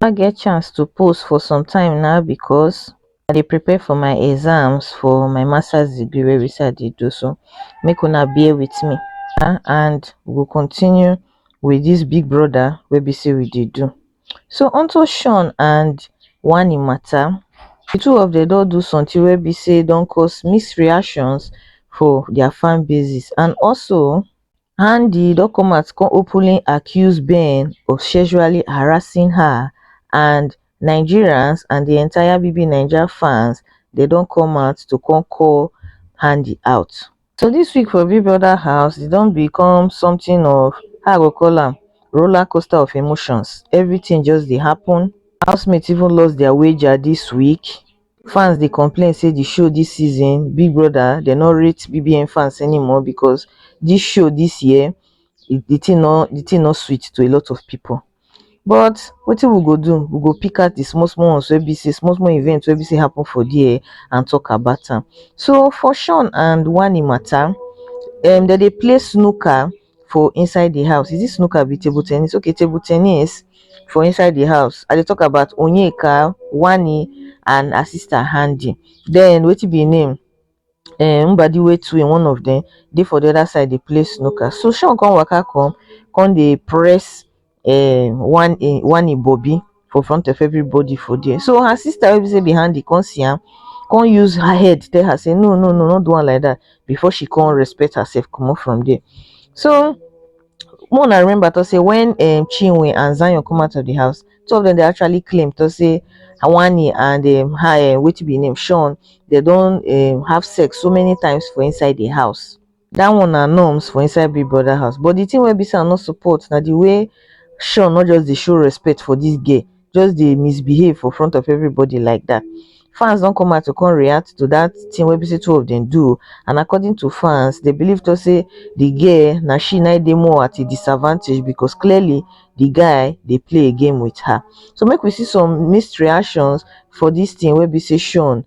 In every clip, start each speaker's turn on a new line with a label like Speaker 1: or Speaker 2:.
Speaker 1: i get chance to pose for some time na because i dey prepare for my exams for my masters degree wey be sey i dey do so make una bear with me um and we go continue with this big brother wey be sey we dey do so unto Shawn and Wani matter the two of them don do something wey be sey e don cause mixed reactions for their fan basis and also and di documents come openly accuse been of sexually harassing her and nigerians and di entire bbnaija fans dey don come out to come call handi out so dis week for big brother house e don become something of how i go call am roller coaster of emotions everything just dey happen housemates even lost their wager dis week fans dey complain say di show dis season big brother dem no rate bbn fans anymore becos di show dis year di tin no di tin no sweet to a lot of pipo but wetin we go do we go pick out di small small ones wey be say small small event wey be say happen for dia and tok about am so for shawn and wani mata um dem dey play snooker for inside the house. Is it snooker abi table tennis? Okay, table tennis for inside the house. I dey talk about Onyeka, Wani, and her sister Handy. Then wetin be im name? Um, Mbadiwe too in one of them. Dey for the other side dey play snooker. So Sean come waka come, come dey press um one in one in Bobby for front of everybody for there. So her sister will be say behind the come see am, come use her head tell her say no no no not do one like that before she come respect herself come up from there. So more I remember to say when um Chinwe and Zion come out of the house, two of them they actually claim to say Awani and um, her um, what be name Sean they don't um, have sex so many times for inside the house. Dat one na norms for inside Big Brother house but the thing wey be say I no support na the way Sean no just dey show respect for this girl, just dey misbehave for front of everybody like that. Fans don come out to come react to that thing wey be say two of them do and according to fans, they believe to say the girl na she na dey more at a disadvantage because clearly the guy dey play a game with her. So make we see some mixed reactions for this thing wey be say Sean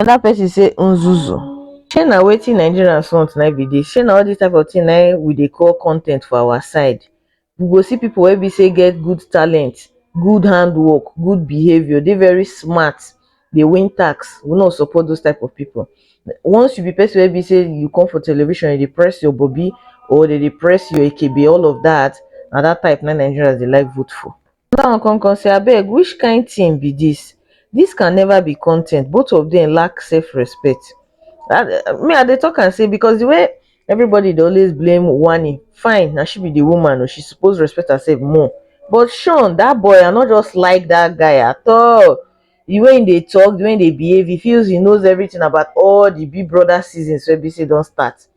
Speaker 1: Another person say nzuzu shey na wetin Nigerians want na im be this, shey na all this type of thing na im we dey call content for our side, we go see people wey be say get good talent, good hand work, good behaviour, dey very smart, dey win tax, we no support those type of people. Once you be person wey be say you come for television you dey press your bobi or dem dey press your ekebe all of that, na that type na im Nigerians dey like vote for. Oga wan come come say abeg which kind thing be this, this can never be content both of them lack self respect me I dey talk am say because the way everybody dey always blame Wanni fine na she be the woman o she suppose respect herself more but Sean that boy I no just like that guy at all the way he dey talk the way he dey behave he feels he knows everything about all the big brother seasons wey be say don start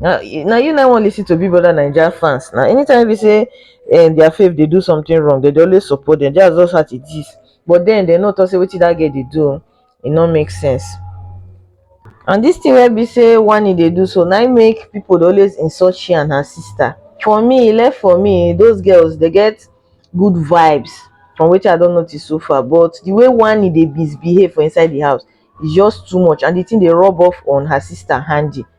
Speaker 1: na na you na wan listen to big brother naija fans na anytime wey be say um, their faith dey do something wrong dem dey always support them that's just how it is but then dem no talk say wetin that girl dey do e no make sense and this thing wey be say wani dey do so na im make people dey always insult she and her sister for me e left for me those girls dey get good vibes from wetin i don notice so far but the way wani dey misbehave for inside the house is just too much and the thing dey rub off on her sister handy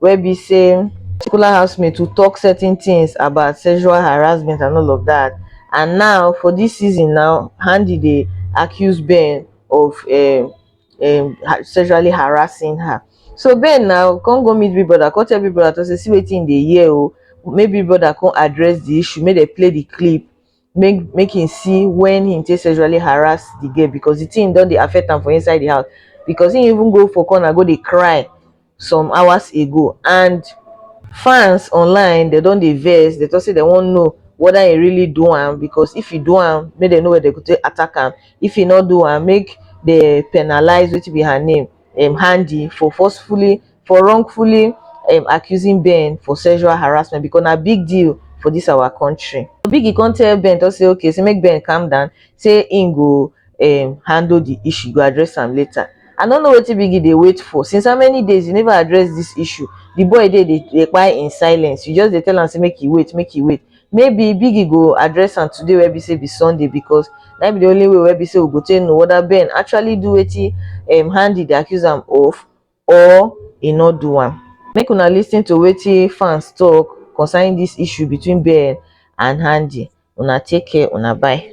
Speaker 1: wey be say particular housemate to talk certain things about sexual harassment and all of that and now for this season now Handi dey accuse Ben of um, um, sexually harassing her so Ben now come go meet Big Brother come tell Big Brother to say see wetin dey hear o oh. maybe Big Brother come address the issue make dem play the clip make make him see when him take sexually harass the girl because the thing don dey affect am for inside the house because he even go for corner go dey cry some hours ago and fans online they don dey vex they talk say they wan know whether he really do am because if he do am make they know where they go take attack am if he no do am make they penalize wetin be her name um handi for forcefully for wrongfully um accusing Ben for sexual harassment because na big deal for this our country. Biggie come tell Ben to say okay, say make Ben calm down, say im go um handle the issue, go address am later. I no know wetin Biggie dey wait for. Since how many days you never address this issue? The boy dey dey dey kpai in silence. You just dey tell am say make e wait, make e wait. Maybe Biggie go address am today wey be say be Sunday because na be the only way wey be say we go take know whether Ben actually do wetin um Handy dey accuse am of or he no do am. Make una listen to wetin fans talk concerning this issue between Ben and Handy. Una take care, una bye.